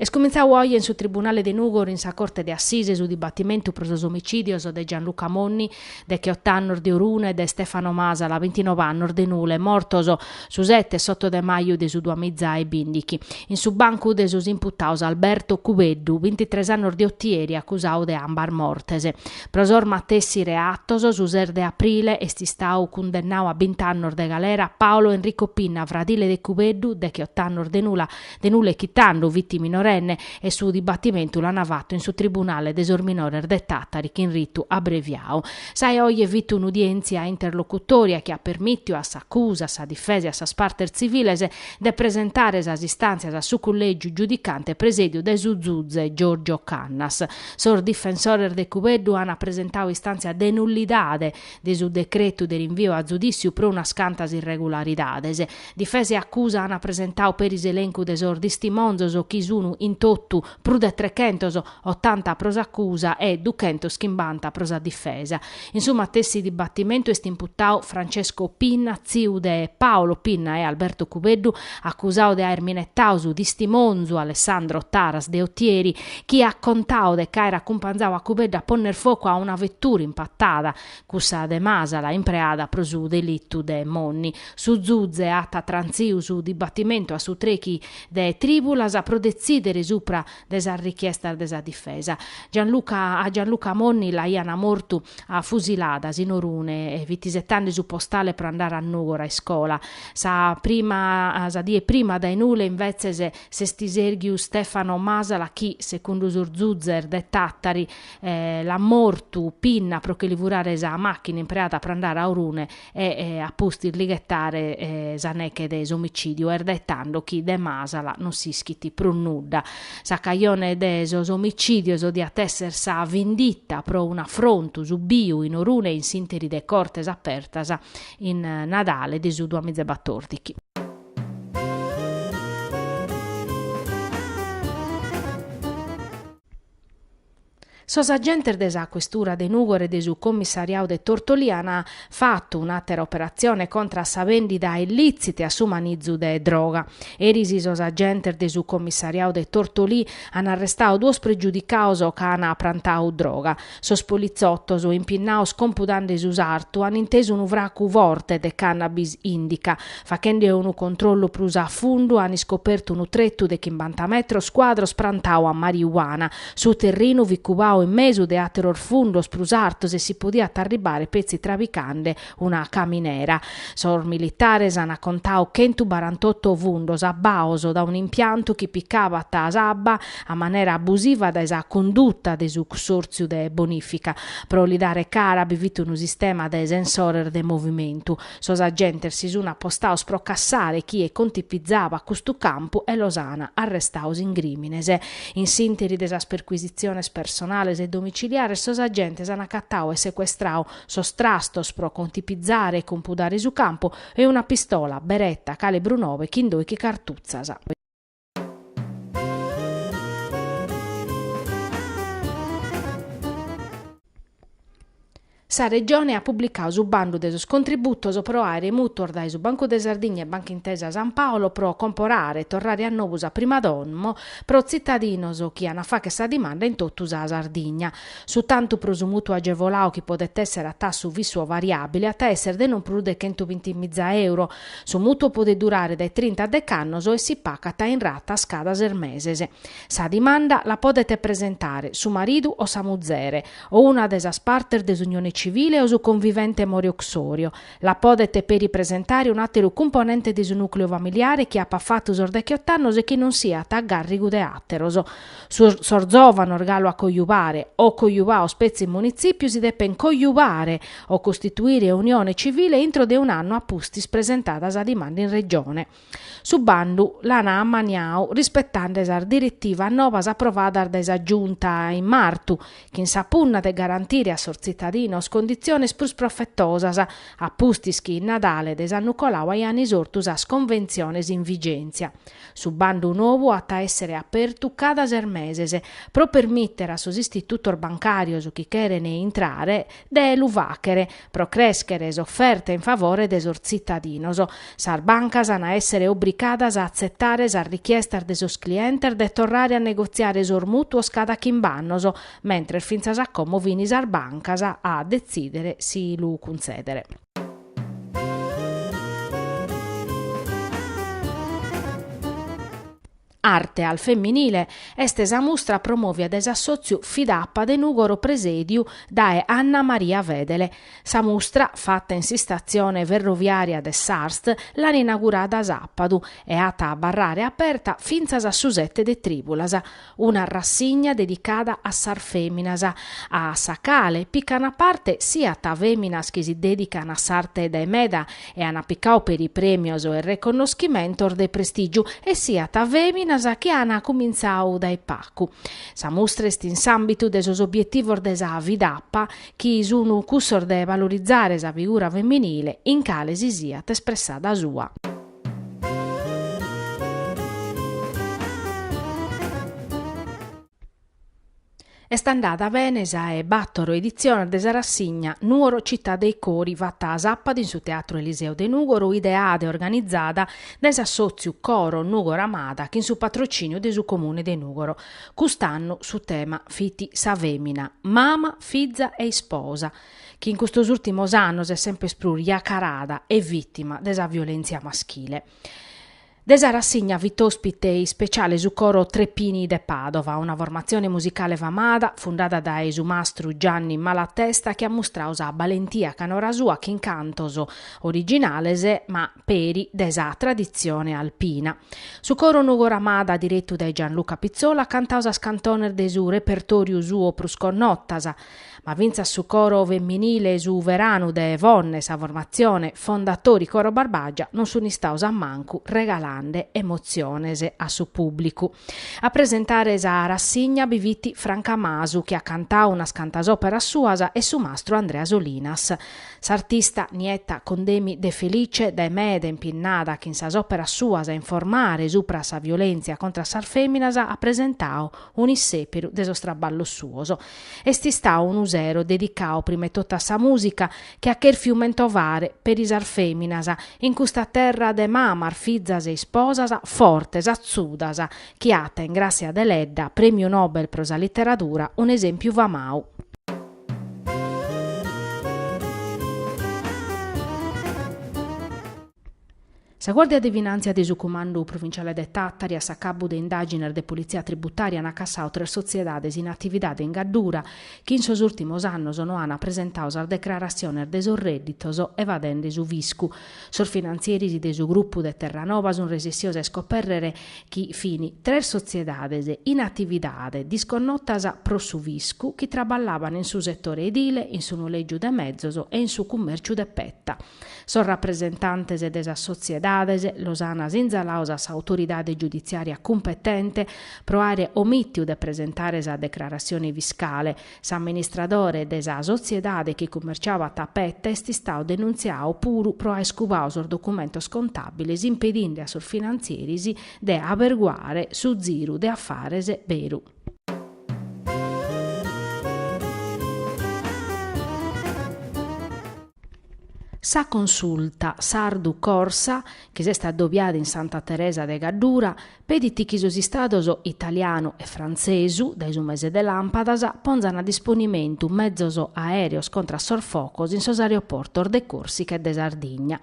Est cumintzau oje in su Tribunale de Nùgoro in sa Corte de Assise su dibatimentu pro sos omicìdios de Gianluca Monni, decheot'annos, de Orune e de Stefano Masala, bintinov'annos, de Nule, mortos Su sete e s'oto de maju de su duamiza e bìndichi, in su bancu de sos imputaos Alberto Cubeddu, bintitres annos de Otieri, acusau de ambas mortes. Pro sos matessi reatos, su ses de aprile est istau cundennau a bint'annos de galera Paolo Enrico Pinna, fradile de Cubeddu, dech'ott'annos de Nule, de Nule chi tando fit minorenne e su dibattimentu l'ana fattu in su tribunale de sos minores de Tàtari chin ritu abbreviau. Sa 'e oje fit un'udièntzia interlocutòria chi at permìtiu a s'acusa, a sa difesa e a sas partes tziviles de presentare sas istàntzias a su collègiu giudicante presèdiu dae su zuze Giorgio Cannas. Sos difensores de Cubeddu ana presentau istàntzia de nullidade de su decretu de rinviu a zudìssiu pro unas cantas irregularidades. Difesa e acusa ant presentau peri s'elencu de sos tistimonzos chi sunu in totu prus de trechentos, otanta pro s'acusa e duchentos chimbanta pro sa difesa. In su matessi dibatimentu est imputau Francesco Pinna, tziu de Paolo Pinna e Alberto Cubeddu, acusau de aer minetau su tistimonzu Alessandro Taras de Otieri, chi at contau de ch'aer acumpanzau a Cubeddu a ponner focu a una vettura in Patada Cussa de Masala impreada pro su delitu de Monni. Su zuze at trantziu su dibatimentu a su trechi de tribulas pro detzidere supra de sas richiestas de sa difesa. A Gianluca Monni l'aiana mortu a fusiladas in Orune e fit isettande su postale pro andare a Nùgoro a iscola. Sa sa die prima dae Nule invetzes s'est iserghiu Stefano Masala chi, secundu sos zuzes de Tattari, l'at mortu Pinna pro che li furare sa machina impreada pro andare a Orune e a pustis li ghetare sa neche de s'omicidiu est dae tando chi de Masala non s'ischit prus nudda. Sa cajone de sos omicidios diat esser sa vinditta pro un'afrontu subbiu in Orune in s'interi de Cortes Apertas in Nadale de su duamiza e batòrdichi. Sos agentes de sa Questura de Nùgoro e de su Commissariau de Tortolì an fatu un'àtera operatzione contra a sa bèndida illìtzita e a su manizu de droga. Eris sos agentes de su Commissariau de Tortolì an arrestau duos pregiudicaos ca an prantau droga. Sos politzotos, impinnaos compudande su sartu, an intesu unu fracu forte de cannabis indica. Fachende unu controllu prus a fundu an iscopertu unu tretu de chimbanta metros cuadros prantadu a mariuana. Su terrinu fit cubadu in mesu de àteros fundos prus artos e si podiat arribbare petzi trabicande una caminera. Sos militares an contadu chentu barantotto fundos abbaos dae un'impiantu chi picabat s'abba a manera abusiva dae sa conduta de su Cussortziu de Bonìfica. Pro li dare cara bi fit unu sistema de sensores de movimentu. Sos agentes si sun apostados pro cassare chie contipizabat custu campu e los an arrestados in grìmines. In s'ìnteri de sas percuisitziones personales e domiciliares sos agentes an acatadu e secuestradu sos trastos pro contipizare e compudare su campu e una pistola Beretta calibru nobe chin doighi cartutzas. Sa Regione at publicadu su bandu de sos contributos pro àere mùtuos dae su Bancu de Sardigna e Banca Intesa San Paolo pro comporare e torrare a nobu sa prima domo pro tzitadinos chi an a facher sa dimanda in totu sa Sardigna. Su tantu pro su mùtuo agevoladu chi podet èssere a tassu fissu o variàbile at a èssere de non prus de chentubinti-miza euro, Su mutuo podet durare dae trinta a dech'annos e si pacat in ratas cada ses meses. Sa dimanda la podet presentare su maridu o sa muzere, o una de sas partes de s'unione civile o su convivente more uxorio. La podet peri presentare un'àteru cumponente de su nùcleu familiare chi apat fatu sos dechiott'annos e chi non siat a gàrrigu de àteros. Sos sos zòvanos galu a coiubare o coiubados petzi in munitzìpiu si depen coiubare o costituire unione civile intro de un'annu a pustis presentada sa dimanda in Regione. Su bandu l'an ammaniadu rispetande sas diretivas nobas aprovadas dae sa Giunta in martu, chin sa punna de garantire a sos tzitadinos conditziones prus profetosas, a pustis chi in Nadale de s'annu colau aian isortu sas conventziones in vigèntzia. Su bandu nobu at a èssere apertu cada ses meses, pro permìtere a sos istitutos bancàrios chi cherent intrare de lu fàchere, pro crèschere s'oferta in favore de sos tzitadinos. Sas bancas an a èssere obligadas a atzetare sas richiestas de sos clientes de torrare a negotziare sos mùtuos cada chimb'annos, mentres fintzas a como fin sas bancas a detzìdere si lu cuntzèdere. Arte al femminile est sa mustra promòvia dae s'assòtziu Fidapa de Nùgoro presèdiu dae Anna Maria Fedele. Sa mustra, fata in s'istatzione ferroviària de s'ARST, l'ant inagurada sàpadu e at a abarrare aperta fintzas a su sete de trìbulas. una rassigna dedicada a sas fèminas, a sa cale pican a parte siat fèminas chi si dèdican a s'arte dae meda e an picadu peri prèmios e reconnoschimentos de prestìgiu e siat fèminas chi an cumintzadu dae pagu. Sa mustra est in s'àmbitu de sos obietivos de sa Fidapa chi sun cussos de valorizare sa figura feminile in cale si siat espressada sua. Est andada bene sa e bàtoro editziones de sa rassigna Nuoro città dei cori fata sàpadu in su Teatru Eliseo de Nùgoro ideada e organizada dae s'assòtziu Coro Nùgoro Amada chin su patrocìniu de su Comune de Nùgoro. Cust'annu su tema fit sa fèmina, mama, fiza e isposa. chi in custos ùrtimos annos est semper prus iacarada e vìtima de sa violèntzia maschile. De sa rassigna fit òspite ispeciale su coro Tre Pini de Pàdova, una formatzione musicale famada, fundada dae su mastru Gianni Malatesta chi at mustradu sa balentia canora sua chin cantos originales ma peri de sa traditzione alpina. Su coro Nùgoro Amada diretu dae Gianluca Pizzola at cantadu sas cantones de su repertòriu suo prus connotas, ma fintzas su coro femminile Su Veranu de Fonne, sa formatzione Fondatori Coro Barbagia, non sun istados a mancu regalande emotziones a su pùblicu. A presentare sa rassigna bi fit Franca Masu chi at cantadu unas cantas òperas suas e su mastru Andrea Solinas. S'artista Nietta Condemi De Felice dae meda impinnada chin sas òperas suas a informare supra sa violèntzia contra sas fèminas at presentadu un'issèpiru de sos traballos suos, Est istau unu sero dedicau prima 'e totu a sa mùsica chi at chèrfiu mentovare peri sas fèminas in custa terra de mamas, fizas e isposas fortes, atzudas, chi at in Gràssia Deledda, Prèmiu Nobel pro sa Literadura, un'esèmpiu famau. Sa Guàrdia de Finàntzia de su Cumandu Provinciale de Tàtari a s'acabu de indàgines de politzia tributària an acassadu tres sotziedades in atividade in Gaddura chi in sos ùrtimos annos no an presentadu sas decraratziones de sos rèdditos evadende su fiscu. Sos finantzieris de su grupu de Terranova sunt resessios a iscopèrrere chi fin tres sotziedades in atividade disconnotas pro su fiscu chi traballaban in su setore edile, in su nolègiu de mezos e in su cummèrciu de petta. Sos rapresentantes de sas sotziedades los an sinzalados a s'autoridade giuditziària cumpetente pro àere omìtiu de presentare sa declaratzione fiscale. S'amministradore de sa sotziedade chi cumerciàbat peta est istadu denuntziadu puru pro àere cubadu sos documentos contàbiles impedinde a sos finantzieris de aberguare su ziru de afares beru. Sa Consulta Sardu Corsa, chi s'est addobiada in Santa Teresa de Gaddura, pedit chi sos Istados italianu e frantzesu, dae su mese de làmpadas, ponzan a disponimentu mezos aèreos contra a sos focos in sos aeroportos de Còrsica e de Sardigna.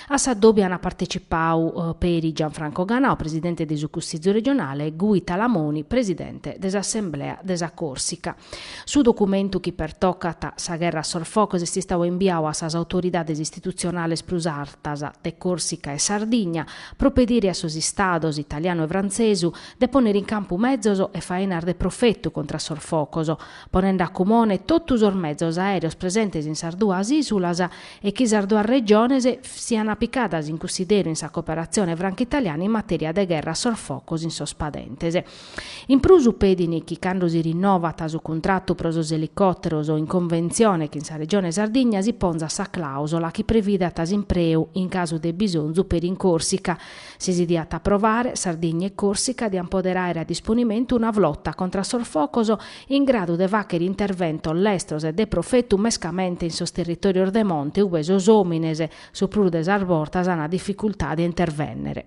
A s'addòbiu ant partecipau peri Gianfranco Ganau, presidente de su Cussizu regionale e Guy Talamoni, presidente de s'Assemblea de sa Còrsica. Su documentu chi pertocat sa gherra a sos focos est istadu imbiau a sas autoridades istitutzionales prus artas de Còrsica e Sardigna pro pedire a sos Istados, italianu e frantzesu, de pònnere in campu mezos e fainas de profetu contra a sos focos, ponende a cumone totu sos mezos aèreos presentes in sas duas ìsulas, e chi sas duas regiones sian picadas in cussideru in sa cooperatzione franco-italiana in matèria de gherra a sos focos in sos padentes. In prus pedin chi cando si rinnovat su cuntratu pro sos elicòteros in conventzione chin sa Regione Sardigna si ponzat sa clàusula chi previdat s'impreu in casu de bisonzu peri in Còrsica si si diat aprovare, Sardigna e Còrsica diant pòdere àere a disponimentu una flota contra sos focos in gradu de fàchere interventos lestros e de profetu mescamente in sos territòrios de monte ube sos òmines, su prus de sas bortas, ant dificultade a intervènnere.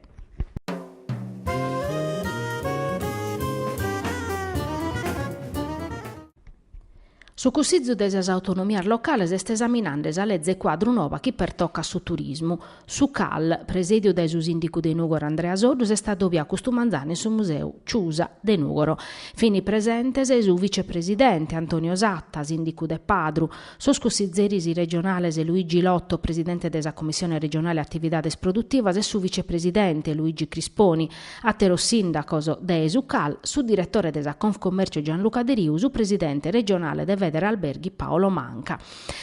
Su Cussizu de sas Autonomias Locales est esaminande sa leze cuadru nova chi pertocat su turismu. Su CAL, presèdiu dae su sìndicu de Nùgoro Andrea Soddu, s'est adobiadu custu manzanu in su Museu Ciusa de Nùgoro. Fini presentes su vicepresidente Antonio Satta, sìndicu de Padru, sos cussizeris regionales Luigi Lotto, presidente de sa Commissione Regionale Attividades Produttivas e su vicepresidente Luigi Crisponi, àteros sìndacos de su CAL, su diretore de sa Confcommercio Gianluca Deriu, su presidente regionale de Federalberghi Paolo Manca.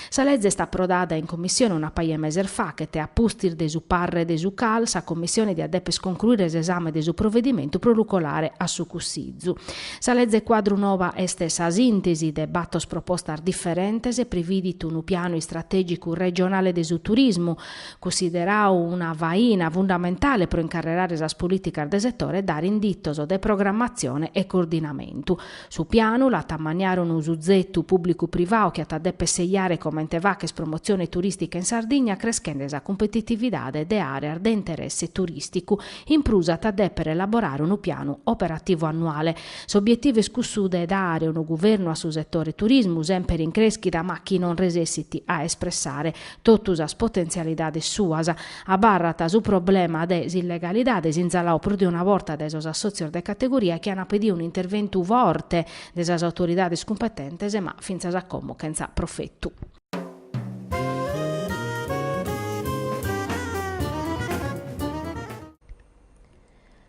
Sa leze est aprodada in Commissione una paja 'e meses fachet e a pustis de su parrer de su CAL sa Commissione diat dèper concluire s'esame de su provedimentu pro lu colare a su Cussizu. Sa leze cuadru noba est sa sintesi de bator propostas diferentes e prividit unu pianu istrategicu regionale de su turismu, cussideradu una faina fundamentale pro incarrerare sas politicas de setore e dare inditos de programmatzione e coordinamentu. Su pianu l'at a maniare unu suzetu pùblicu-privau chi at a dèpere seiare comente fàghere promotzione turìstica in Sardigna creschende sa cumpetitividade de àreas de interesse turìsticu. In prus at a dèpere elaborare unu pianu operativu annuale. S'obietivu est cussu de dare unu guvernu a su setore turismu, semper in crèschida ma chi non resessit a espressare totu sas potentzialidades suas, Abarrat su problema de s'illegalidade sinzaladu prus de una borta dae sos assòtzios de categoria chi ant pedidu un'interventu forte de sas autoridades cumpetentes ma fintzas a como chentza profetu.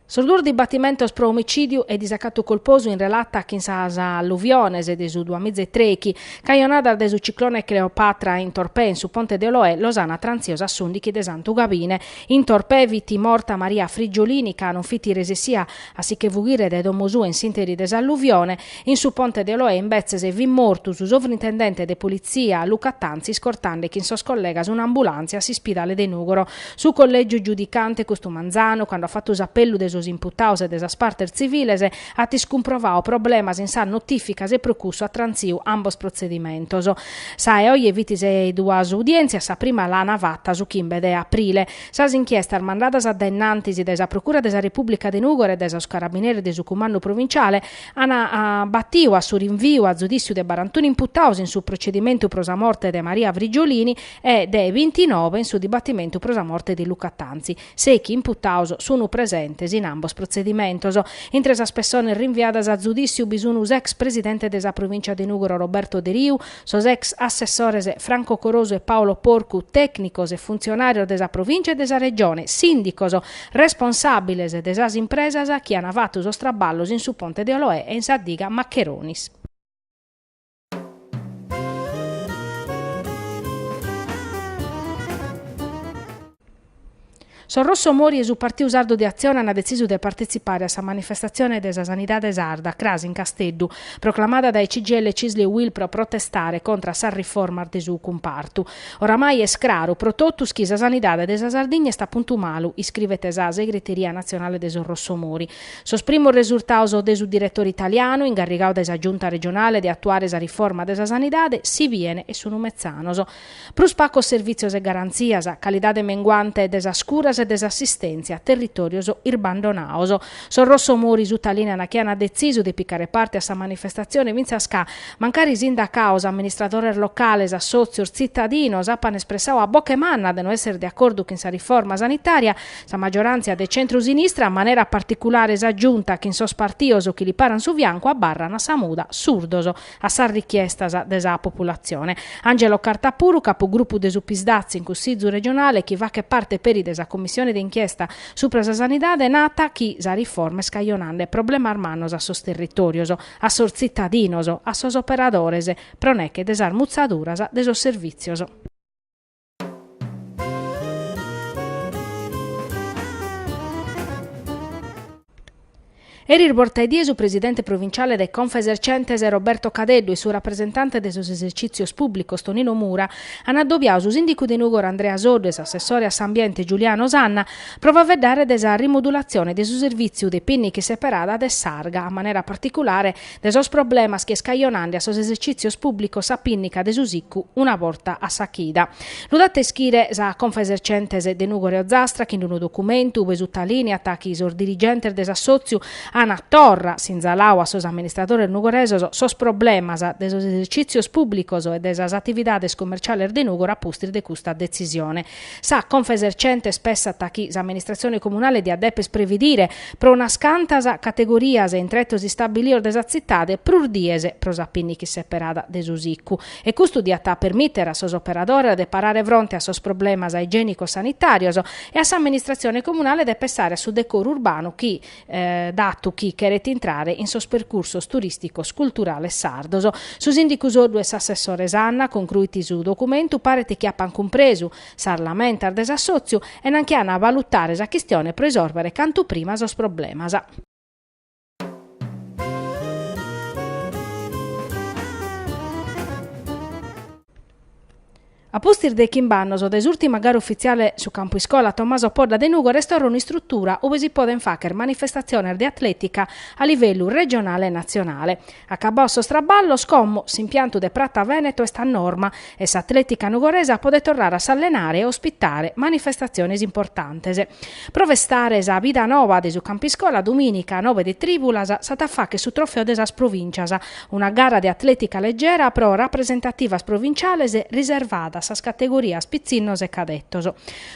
Sos duos dibatimentos pro omicìdiu e disacatu colposu in relata chin sas alluviones de su duamiza e trèichi, cajonadas de su ciclone Cleopatra in Torpè in su ponte de Oloè, los an trantzios a s'ùndighi de Santu Gabine. In Torpè fit morta Maria Frigiolini ca non fit resessia a si che fughire dae domo sua in s'interi de s'alluvione. In su Ponte de Oloè imbetzes fit mortu su sovrintendente de Politzia, Luca Tanzi, iscortande chin sos collegas un'ambulàntzia a s'ispidale de Nùgoro. Su Collègiu Giudicante, custu manzanu, cando at fatu s'apellu de sos imputados e de sas partes tziviles, at iscumprovadu problemas in sas notìficas e pro cussu at trantzidu ambos protzedimentos. Sa 'e oje fit sa 'e duas udièntzias, sa prima l'ana fata su chimbe de aprile. Sas inchiestas mandadas a dainnantis dae sa Procura de sa Repùblica de Nùgoro e dae sos carabineris de su Cumandu Provinciale, an batiu a su rinviu a zudìssiu de barantunu imputaus in su procedimentu pro sa morte de Maria Frigiolini e de bintinove in su dibatimentu pro sa morte de Luca Tanzi. Sèichi imputaus sunu presentes in ambos protzedimentos. Intre sas pessones rinviadas a zudìssiu bi sun s'ex presidente de sa Provìncia de Nùgoro Roberto Deriu, Sos ex assessores Franco Corosu e Paolo Porcu, tècnicos e funtzionàrios de sa Provìncia e de sa Regione, sìndicos, responsàbiles de sas impresas chi ant fatu sos traballos in su ponte de Oloè e in sa diga Maccheronis. Sos Rosso Mori e su Partidu Sardu de Atzione an detzisu de partetzipare a sa manifestatzione de sa sanidade sarda cras in Casteddu, proclamada dae CGIL, CISL e UIL pro protestare contra a sas riformas de su cumpartu. Oramai est craru pro totus chi sa sanidade de sa Sardigna est a puntu malu, iscrivet sa Segreteria Natzionale de sos Rosso Mori. Sos primos resurtados de su diretore italianu, ingarrigadu dae sa Giunta Regionale de atuare sa riforma de sa sanidade, si biene e sunu metzanos. Prus pacos servìtzios e garantzias, calidade menguante de sas curas e de s'assistèntzia, territòrios irbandonados. Sos Rossomori sutalìniant chi ant detzisu de picare parte a sa manifestatzione fintzas ca, mancari sindacados, amministradores locales, assòtzios, tzitadinos apant espressadu a boche manna de no èssere de acordu chin sa riforma sanitària, sa maggioràntzia de centru-sinistra, a manera particulare sa Giunta chin sos partidos chi li paran su fiancu, abarrant a sa muda surdos. a sas richiestas de sa populatzione. Angelo Carta puru, capugrupu de su Psd'Az in Cussizu regionale chi faghet parte peri de sa Commissione de inchiesta supra sa sanidade nat chi sa riforma est cajonande problemas mannos a sos territòrios, a sos tzitadinos, a sos operadores pro neche de sas mutzaduras de sos servìtzios. Eris borta 'e die su presidente provinciale de Confesercentes Roberto Cadeddu e su rapresentante de sos esercìtzios pùblicos Tonino Mura ant adobiadu su sìndicu de Nùgoro Andrea Soddu e s'assessore a s'ambiente Giuliano Sanna pro faeddare de sa rimodulatzione de su servìtziu de pìnniche seperada de s'arga a manera particulare de sos problemas chi est cajonande a sos esercìtzios pùblicos sa pìnnica de su sicu una borta a sa chida. Lu dat a ischire sa Confesercentes de Nùgoro e Ozastra chin unu documentu ue sutalìniat chi sos dirigentes de s'assòtziu an torra sinzaladu a sos amministradores nugoresos sos problemas de sos esercìtzios pùblicos e de sas atividades commerciales de Nùgoro a pustis de custa detzisione Sa Confesercentes pessat chi s'amministratzione comunale diat dèpere previdire pro unas cantas categorias in tretos istabilios de sa tzitade prus dies pro sa pinniche seperada de su sicu e custu diat permìtere a sos operadores de parare fronte a sos problemas igiènico-sanitàrios e a s'amministratzione comunale de pessare a su decoru urbanu chi datu chi cheret intrare in sos percursos turìsticos culturales sardos. Su sìndicu Soddu e s'assessore Sanna, concruit su documentu, paret chi apant cumpresu sas lamentas de s'assòtziu e nan chi an a valutare sa chistione pro isòrbere cantu prima sos problemas. A pustis de chimb'annos dae s'ùrtima gara ufitziale su campu iscola Tommaso Podda de Nùgoro est torra un'istrutura ue si podent fàghere manifestatziones de atlètica a livellu regionale e natzionale. Acabados sos traballos, como, s'impiantu de Pratza Vèneto est a norma e s'atlètica nugoresa podet torrare a s'allenare e ospitare manifestatziones importantes. Pro festare sa bida noba de su campu iscola, dumìnica a nobe de trìbulas s'at a fàghere su trofeo de sas provìncias, Una gara de atlètica legera pro rapresentativas provinciales riservada a sas categorias pitzinnos e cadetos.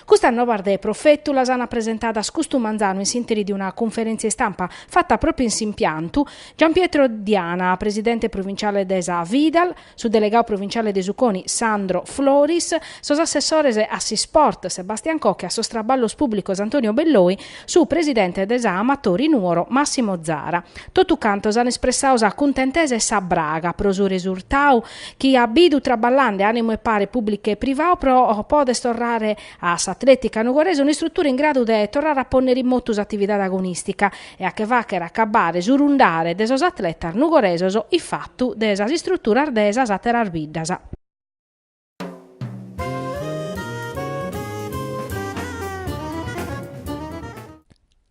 Custas nobas de profetu las ana presentadas custu manzanu in s'interi de una cunferèntzia istampa fata pròpiu in s'impiantu, Gianpietro Diana, presidente provinciale de sa Fidal, su delegadu provinciale de su Coni Sandro Floris, sos assessores a s'isport Sebastian Cocco e a sos traballos pùblicos Antonio Belloi, su presidente de sa Amatori Nuoro Massimo Zara. Totu cantos an espressadu sa cuntentesa e sa braga pro su resurtadu chi at bidu traballande ànimu e pare pùblicu e privadu pro poder torrare a s'atlètica nughorese un'istrutura in gradu de torrare a pònnere in motu s'atividade agonìstica e a che fàghere acabare su rundare de sos atletas nughoresos ifatu de sas istruturas de sas àteras biddas.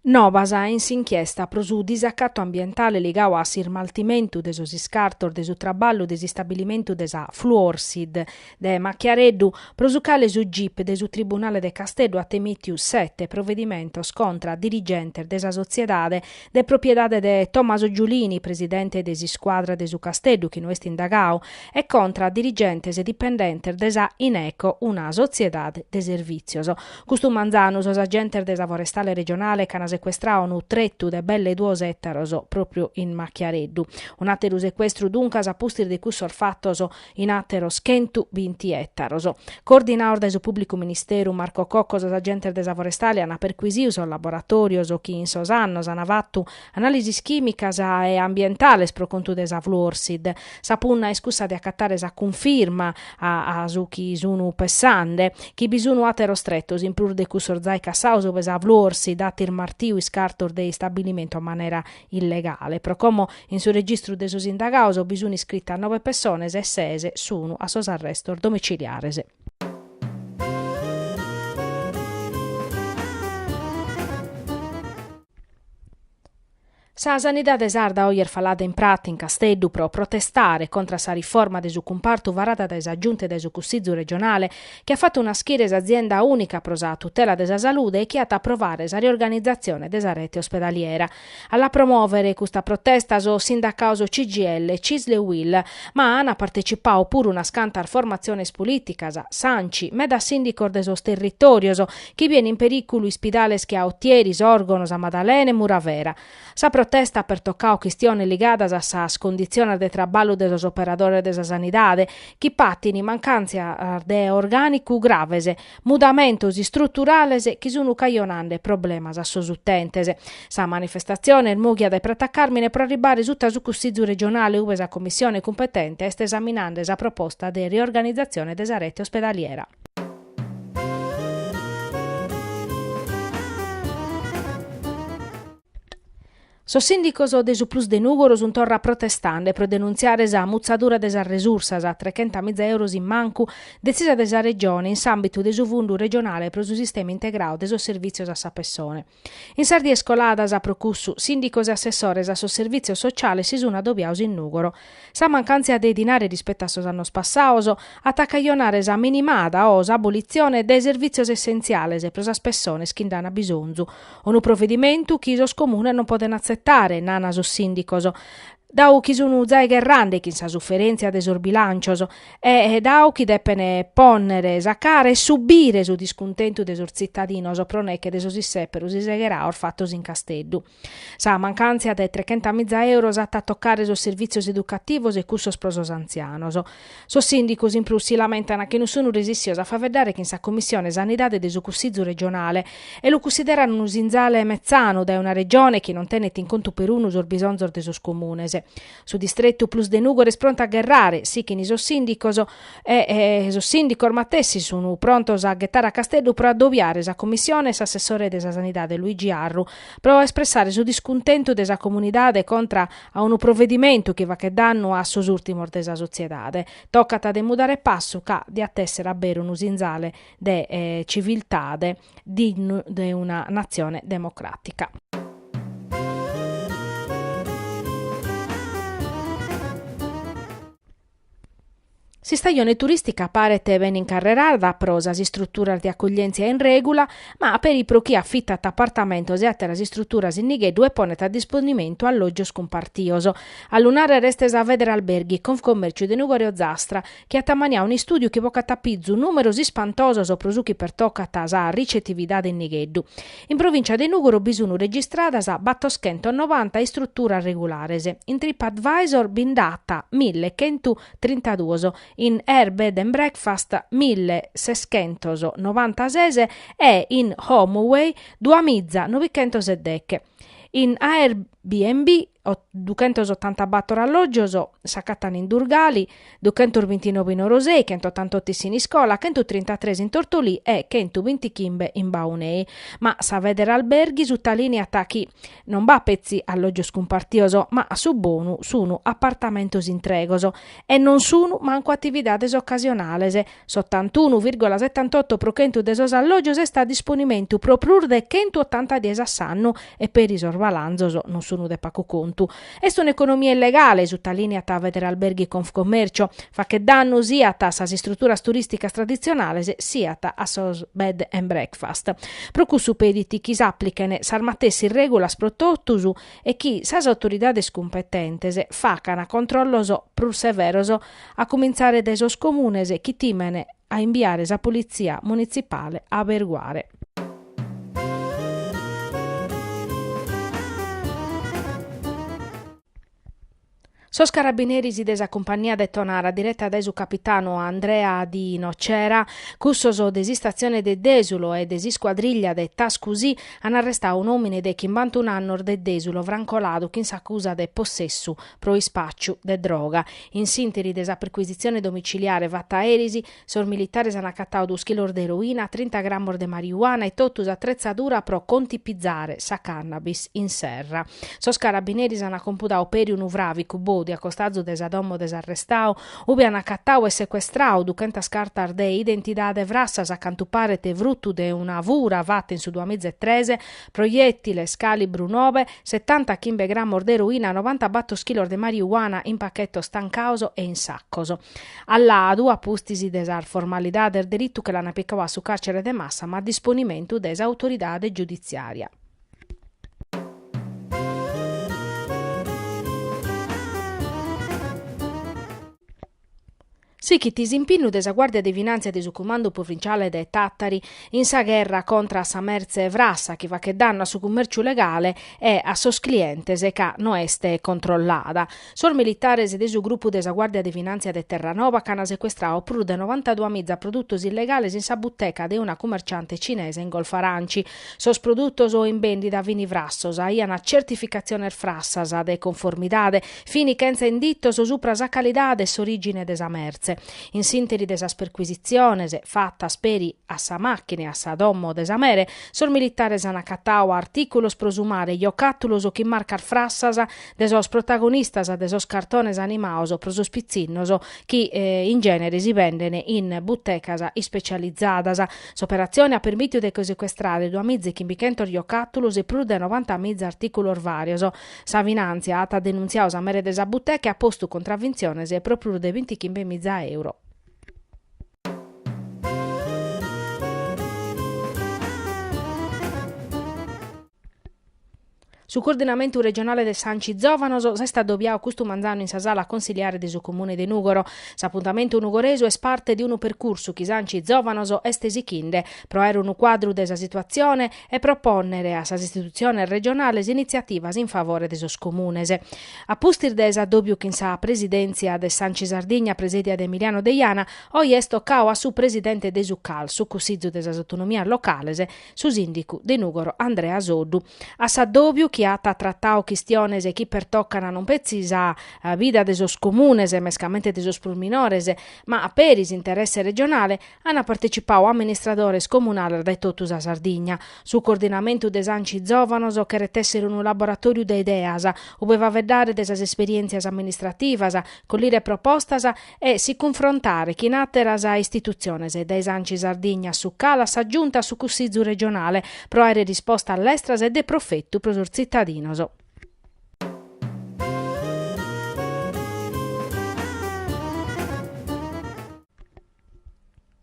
Novas in s'inchiesta pro su disacatu ambientale ligadu a s'ismaltimentu de sos iscartos de su traballu de s'istabilimentu de sa Fluorsid de Macchiareddu, pro su cale su gip de su tribunale de Casteddu at emìtiu sete provedimentos contra dirigentes de sa sotziedade de propriedade de Tommaso Giulini, presidente de s'iscuadra de su Casteddu chi no est indagadu, e contra a dirigentes e dipendentes de sa Ineco, una sotziedade de servìtzios. Custu manzanu sos agentes de sa Forestale regionale ch'an secuestradu unu tretu de belle duos ètaros pròpriu in Macchiareddu. Un'àteru secuestru duncas a pustis de cussos fatos, in àteros chentu binti ètaros. Coordinados dae su Pùblicu Ministeru, Marco Cocco, sos agentes de sa Forestale ant perquisidu sos laboratòrios chi in sos annos ant fatu anàlisis chìmicas e ambientales pro contu de sa Fluorsid. Sa punna est cussa de acatare sa cunfirma a su chi sun pessande chi bi sun àteros tretos in prus de cussos zai cassados ue sa Fluorsid at ismartiu iscartos de istabilimentu a manera illegale, pro como in su registru de sos indagados bi sun iscritas nove pessones e ses sun a sos arrestos domiciliares. Sa sanidade sarda oje est falada in prata in Casteddu pro protestare contra sa riforma de su cumpartu varada dae sa Giunta e dae su Cussizu regionale chi at fatu naschire s'azienda ùnica pro sa tutela de sa salude e chi at a aprovare sa riorganizatzione de sa rete ospedaliera. A la promòvere custa protesta sos sindacados CGIL, CISL e UIL, ma an partecipadu puru unas cantas formatziones polìticas, s'Anci, medas sìndicos de sos territòrios, chi biene in perìculu ispidales che a Otieri, Sòrgono, Sa Madalena e Muravera. Sa protesta at pertocau chistiones ligadas a sas conditziones de traballu de sos operadores de sa sanidade, chi patin mancàntzias de orgànicu graves, mudamentos istruturales chi sun cajonande problemas a sos utentes. Sa manifestatzione est mòghia dae Prata Càrmine pro arribare suta su Cussizu regionale ube sa Commissione cumpetente est esaminande sa proposta de riorganizatzione de sa rete ospedaliera. Sos sìndicos de su Plus de Nùgoro sun torra protestande pro denuntziare sa mutzadura de sas resursas, trechenta miza euros in mancu detzisa de sa Regione in s'àmbitu de su Fundu regionale pro su sistema integrau de sos servìtzios a sa pessone. In sas dies coladas, pro cussu, sìndicos e assessores a sos servìtzios sociales si sun adobiaos in Nùgoro. Sa mancàntzia de dinare rispettu a sos annos passaos at a cajonare sa minimada o s'abulitzione de servìtzios essentziales pro sas pessones chi nd'an bisonzu, unu provedimentu chi sos comunes non poden atzetare, nana sos sìndicos. dau chi sun zai gherrande chin sa suferentzia de sos bilancios e dau chi depen ponnere sa cara e subire su discuntentu de sos zittadinos pro neche de sos isseperos isegheraos fattos in Casteddu. Sa mancantzia de trechentamizza euros at a toccare sos servizios educativos e cussos pro sos anzianos. Sos sìndicos in prus si lamentan chi non sun resissios a faveddare chin sa Commissione Sanidade de su Cussizu regionale e lu cussideran unu sinzale metzanu dae una Regione chi non tenet in contu perunu sos bisonzos de sos comunes. Su distretu Plus de Nùgoro est prontu a gherrare, sichin sos sìndicos, e sos sìndicos matessi sun prontos a ghetare a Casteddu pro adobiare sa Commissione e s'assessore de sa Sanidade Luigi Arru pro espressare su discuntentu de sa comunidade contra a unu provedimentu chi fachet dannu a sos ùrtimos de sa sotziedade. Tocat de mudare passu ca diat èssere a beru unu sinzale de civiltade dignu de una natzione democràtica. S'istajone turìstica paret bene incarrerada pro sas istruturas de acuglièntzia in règula, ma peri pro chie afitat apartamentos e àteras istruturas in nigheddu e ponet a disponimentu allògios cumpartios. A lu nàrrere est sa Federalberghi Confcommercio de Nùgoro Ozastra, chi at ammaniau un'istùdiu chi bocat a pizu nùmeros ispantosos pro su chi pertocat sa ricetividade in nigheddu. In provìntzia de Nùgoro bi sun registradas battoschentos novanta istruturas regulares, in TripAdvisor bi nd'at mille chentu trintaduos, in Air Bed and Breakfast mille seschentos novantases e in HomeAway duamiza novichentos e deche. In BNB, duchentos otantabator alloggios s'acattan in Durgali, duchentos bintinove in Orosei, chentotantoto in Siniscola, chentutrintatres in Tortolì e chentubintichimbe in Baunei. Ma sa Federalberghi sutalìniat chi non b'at petzi alloggios cumpartios, ma a su bonu sunu apartamentos intregos e non sunu mancu atividades ocasionales, S'otantunu virgola setantotto pro chentu de sos allògios est a disponimentu pro prus de chentu otanta dies a s'annu e peri sos balanzos non sun de pacu contu. Est un'economia illegale, sutalìniat Federalberghi Confcommercio, fachet dannu siat a sas istruturas turìsticas traditzionales siat a sos bed and breakfast. Pro cussu pedit chi s'aplichen sas matessi règulas pro totus e chi sas autoridades cumpetentes facan controllos prus severos a cumintzare dae sos comunes chi timen a imbiare sa politzia munitzipale a aberguare. Sos carabineris de sa cumpagnia de Tonara direta dae su capitanu Andrea Di Nocera, cussos de s'Istatzione de Desulo e de s'iscuadriglia de Tascusì an arrestau un'òmine de chimbantun'annos de Desulo Franco Ladu chin s'acusa de possessu pro ispàciu de droga. In s'ìnteri de sa percuisitzione domiciliare fata eris, sos militares an acatau duos chilos de eroina, trinta gramos de marijuana e totu s'atretzadura pro contipizare sa cannabis in serra. Sos carabineris an compudau peri unu fràvicu bòdiu a costazu de sa domo de s'arrestau, ube an acatau e secuestrau duchentas cartas de identidade frassas, a cantu paret frutu de una fura fata in su duamiza e tres, Proiètiles càlibru nobe, setantachimbe grammos de eroina, novantabator chilos de mariuana in pachetos tancaos e in sacos. A Ladu, a pustis de sas formalidades, deritu che l'an picau a su càrcere de Massama a disponimentu de s'autoridade giuditziària. Sichit s'impinnu de sa Guàrdia de Finàntzia de su Cumandu Provinciale de Tàtari in sa gherra contra a sa mertze frassa chi fachet dannu a su cumèrciu legale e a sos clientes ca no est controllada. Sos militares de su grupu de sa Guàrdia de Finàntzia de Terranova ch'an secuestrau prus de novantaduamiza produtos illegales in sa buteca de una cumerciante cinese in Golfo Aranci. Sos produtos in bèndida fin frassos, aiant certificatziones frassas de conformidade, Fini chentza inditos supra sa calidade e s'orìgine de sa mertze. In s'ìnteri de sas percuisitziones fatas peri a sa màchina e a sa domo de sa mere, sos militares an acatau artìculos pro su mare, jocàtulos chin marcas frassas de sos protagonistas de sos cartones animaos pro sos pitzinnos chi in gènere si benden in butecas ispecializadas. S'operatzione at permìtiu de che secuestrare duamìzechimbichèntos jocàtulos e prus de novantamiza artìculos vàrios. Sa Finàntzia at denuntziadu sa mere de sa buteca e at postu contravintziones pro prus de bintichimbe miza euro. Su Coordinamentu Regionale de s'Anci Zòvanos s'est adobiadu custu manzanu in sa sala consiliare de su Comune de Nùgoro. S'apuntamentu nugoresu est parte de unu percursu chi s'Anci Zòvanos est sighende pro aer unu cuadru de sa situatzione e propònnere a sas istitutziones regionales initziativas in favore de sos comunes. A pustis de s'addòbiu chin sa presidèntzia de s'Anci Sardigna presèdia de Emiliano Deiana, oe est tocadu a su presidente de su cal, su Cussizu de sas Autonomias Locales, su sìndicu de Nùgoro Andrea Soddu. A s'addòbiu chi at tratadu chistiones chi pertocan non petzi sa vida de sos comunes, mescamente de sos prus minores, ma a peris interesse regionale, Ant partecipau amministradores comunales dae totu sa Sardigna. Su coordinamentu de s'Anci Zòvanos cheret èssere unu laboratòriu de ideas, ube faveddare de sas esperièntzias amministrativas, collire propostas e si cunfrontare chin àteras istitutziones, dae s'Anci Sardigna a su Cal a sa Giunta a su Cussizu regionale, pro àere rispostas lestras e de profetu pro sos tzitadinos.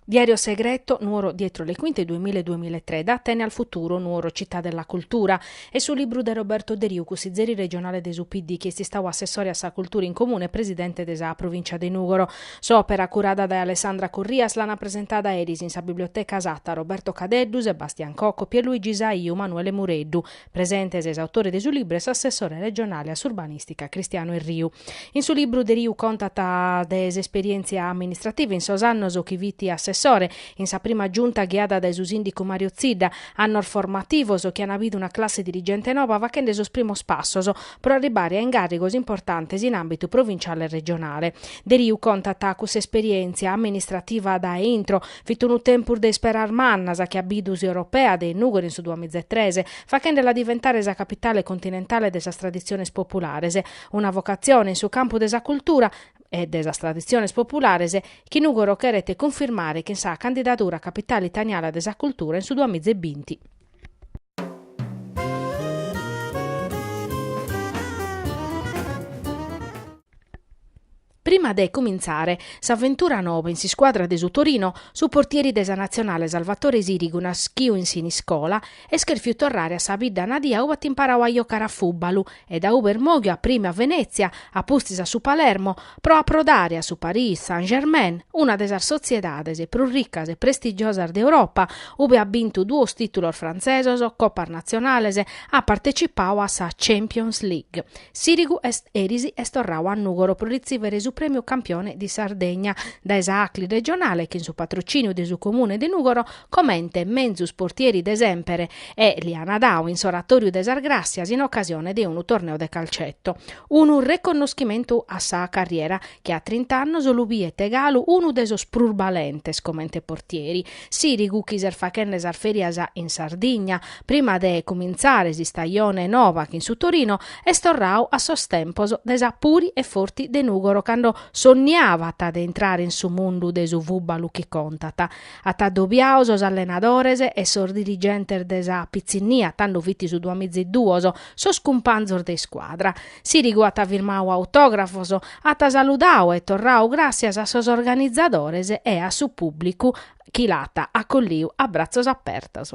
Diario Segreto, Nuoro dietro le quinte 2000-2003, Da Atene al futuro, Nuoro Città della cultura, est su libru de Roberto Deriu, cussizeri regionale de su PD, chi est istadu assessore a sa cultura in Comune e presidente de sa Provìncia de Nùgoro. S'òpera, curada dae Alessandra Corrias, l'ant presentada eris in sa Biblioteca Satta Roberto Cadeddu, Sebastian Cocco, Pierluigi Saiu, Manuele Mureddu, Presentes s'autore de su libru e s'assessore regionale a s'urbanìstica Cristiano Erriu. In su libru Deriu contat de s'esperièntzia amministrativa in sos annos chi fit assessore, in sa prima Giunta ghiada dae su sìndicu Mario Zidda, annos formativos chi an bidu una classe dirigente noba faghende sos primos passos pro arribare a ingàrrigos importantes in àmbitu provinciale e regionale. Deriu contat cuss'esperièntzia amministrativa dae intro, Fit unu tempus de isperas mannas chi at bidu s'Europeade in Nùgoro in su duamiza e tres, faghendela diventare sa capitale continentale de sas traditziones populares, una vocatzione in su campu de sa cultura e de sas traditziones populares chi Nùgoro cheret cunfirmare chin sa candidadura a Capitale italiana de sa cultura in su duamiza e binti. Prima de cumintzare s'aventura noba in s'iscuadra de su Torino, su portieri de sa Natzionale Salvatore Sirigu naschiu in Siniscola est cherfiu torrare a sa bidda nadia ube at imparau a jocare a fùbbalu e dae ube est mòghiu a prime a Venètzia apustis a su Palermo pro aprodare a su Paris Saint-Germain una de sas sotziedades prus ricas e prestigiosas de Europa ube at bintu duos tìtulos frantzesos, copas natzionales, at partecipau a sa Champions League. Sirigu eris est torrau a Nùgoro pro ritzìvere su Prèmiu Campione di Sardegna dae sa Acli Regionale chin su patrocìniu de su Comune de Nùgoro comente menzus portieri de semper e li ana dau in s'Oratòriu de sas Gràssias in ocasione de unu torneu de calcetto. Unu reconnoschimentu a sa carriera chi a trint'annos lu biet galu unu de sos prus balentes comente portieri Sirigu chi est fachende sas ferias in Sardigna, prima de cumintzare s'istajone noba chin su Torino, est torrau a sos tempos de sa Puri e Forti de Nùgoro cando sonniabat de intrare in su mundu de su fùbalu chi contat. At adobiau sos allenadores e sos dirigentes de sa pitzinnia, tando fit su duamiziduos, sos cumpanzos de iscuadra. Sirigu at firmau autografos, at saludau e torrau gràssias a sos organizadores e a su pùblicu chi l'at acolliu a bratzos apertos.